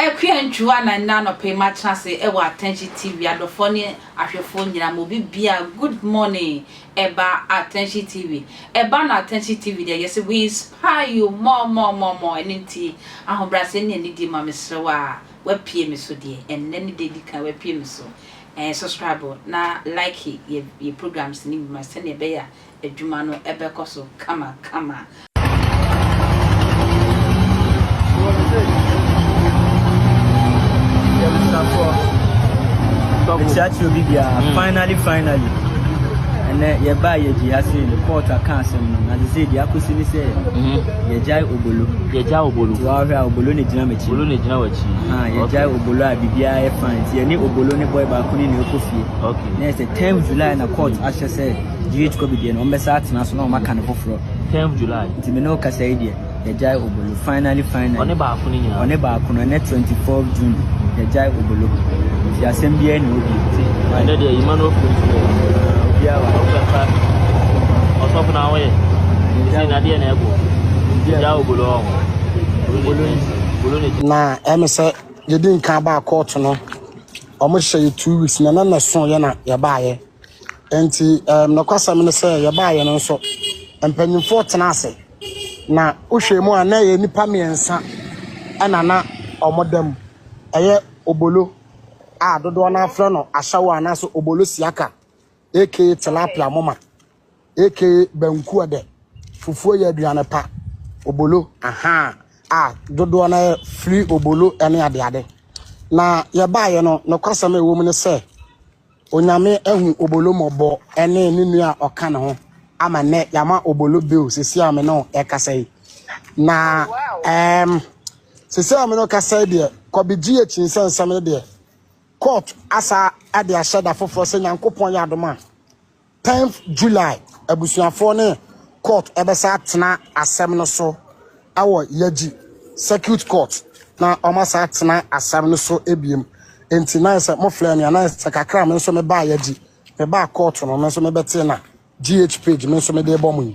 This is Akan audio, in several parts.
Akua ntwiw anan nnɛ anɔpa yi matena ase wɔ Atɛnkye TV adɔfoɔ ne ahwɛfoɔ nyinaa ma obi biara good morning ɛba Atɛnkye TV ɛba na Atɛnkye TV deɛ yɛse we inspire you more more more more ɛno nti ahobrɛaseɛ ne anidie ma mesrɛ wo a wapue me so deɛ ɛnnɛ ne da edi kan wapue me so ɛɛ subscribe na like yɛ yɛ programs ne bi ma sɛnea ɛbɛyɛ a adwuma no ɛbɛkɔ so kama kama. Ɛkyerɛkyerɛ obi biara mm. finally finally ɛnɛ yɛbaa yɛ gyi ha sɛ report aka asɛm no na de sɛ deɛ akɔsi ne sɛ mm-hmm. Yɛgyae Obolo. Yɛgyae Obolo. Nti wahwɛ a Obolo na gyina m'akyi. Obolo na gyina w'akyi. Ah, yɛgyae okay. Obolo a biribiara yɛ fine. Nti yɛne Obolo ne boy baako ne na ɛkɔ fie. Okay. Na ɛsɛ 10 July na court mm. ahyɛ sɛ GH Kobe deɛ na wɔbɛsa atena so na wɔaka ne foforɔ. 10 July. Nti me ne wo kasa yi deɛ yɛgyae Obolo. Finally finally. Ɔne baako. no nyinaa. Ɔne baako no ɛnɛ twenty four June yɛgyae obolo nti asɛm biara ni hɔ bio ti. Ɛnɛ deɛ yima no ofiri nti obiara wa ɔfɛfa ɔsɔfo na ahoyɛ ɛsi na deɛ na ɛbo yɛgya obolo wɔ ho obolo ne obolo ne. Na ɛmi sɛ yɛdi nkan baa kɔɔto no wɔn hyɛ yɛ two weeks na ɛnɛ na ɛso yɛ na yɛbaayɛ nti ɛm nɔkwasɛm ne sɛ yɛbaayɛ no nso mpanyinfoɔ tena ase. Na wohwɛ mu a na ɛyɛ nnipa mmiɛnsa na na wɔda mu. Ɛyɛ Obolo a dodoɔ no ara frɛ no Ashawo anaasɛ Obolo Siaka aka Tilapia Moma aka Banku Ɔdɛ Fufuo yɛ aduane pa Obolo ahaa a dodoɔ no ara firi Obolo ne adeade. Na yɛbaeɛ no nokwasɛm a ɛwɔ mu ne sɛ Onyame ahu Obolo mmɔbɔ ɛne ne nua a ɔka ne ho ama nnɛ yama Obolo bail sisi a me ne wo ɛkasa yi na ɛɛm sisi a me ne wo kasa yi deɛ kɔbi gye yɛ kyinsɛ nsɛm no deɛ court asa ɛde ahyɛ da foforɔ sɛ Nyankopɔn yɛ adom a Tenth July, Abusuafoɔ ne Court bɛsan atena asɛm no so wɔ Yagyi Circuit Court na wɔn asan atena asɛm no so biom nti na ayɛ sɛ mo flɛ me a na ayɛ sɛ kakra me nso me baa Yagyi me baa court no me nso me bɛtee na GH page me nso me de bɔ mo yi.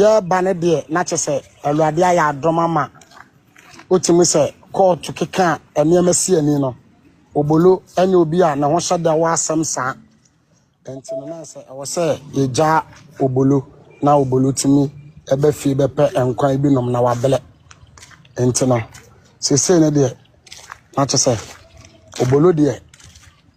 Yɛɛba no deɛ na kyɛsɛ Awurade ayɛ adom ama otumi sɛ kɔɔto keka a nneɛma si ani no Obolo ɛnyɛ obi a ne ho hyɛ da wɔ asɛm saa ɛnti no na sɛ ɛwɔ sɛ yɛgyaa Obolo na Obolo tumi ɛbɛ fie bɛpɛ nkwan ebi nom na wabrɛ ɛnti no sesei no deɛ na kyɛsɛ Obolo deɛ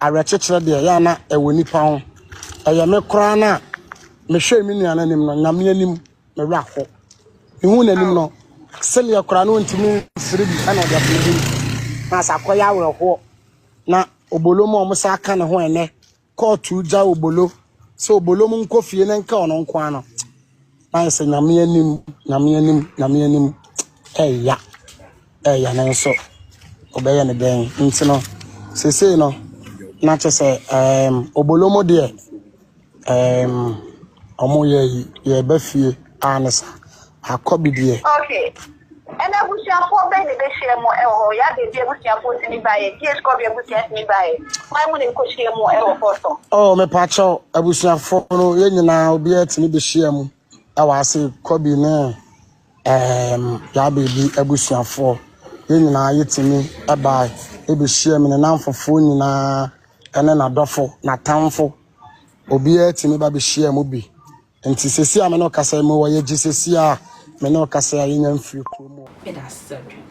Awerɛkyekyerɛ deɛ ɛyɛ a na ɛwɔ nipa ho. Ɛyɛ me koraa no a, mehwɛɛ me nua no anim no, Nyame anim, me werɛ aho. Mehuu n'anim no, sɛdeɛ koraa na ɔntumi mfiri bi na ɔde afiri bi. Na sɛ akɔyɛ awerɛhoɔ. Na Obolo mu a wɔn saa ka ne ho ɛnɛ, kɔɔto gya Obolo sɛ Obolo mu nkɔ fie na nka ɔno nko ara no. Ayɛ sɛ nyame anim, nyame anim, nyame anim. Ɛya, ɛya ne nso. Ɔbɛyɛ ne dɛn nti no. Sesei no, na kyɛ sɛ um, obolomo deɛ um, ɔmo yɛ yɛba fie a ne sa. Akɔ bi deɛ. Okay. Ɛna abusuafoɔ bɛn na ɛbɛhyia mu wɔ hɔ? Yabia bi abusuafoɔ tumi baeɛ. Dias Kɔbe abusua tumi baeɛ. Hwan mu na ɛkɔhyia mu wɔ Fɔsɔ? Oh, mepaakyɛw, abusuafoɔ no, yɛn nyinaa obiara tumi bɛhyia mu wɔ ase. Kɔbe ne um, Yabia bi abusuafoɔ, yɛn nyinaa yɛtumi bae ɛbɛhyia mu. Ne namfofoɔ nyinaa ne n'adɔfo, n'atamfo, obiara tumi ba bɛhyia mu bi Nti sɛsi a me ne wo kasa yi mo wɔ yɛ gye sɛsi a me ne wo kasa yi a yɛnya mfiri kuro mu. Meda asesɛ dwen.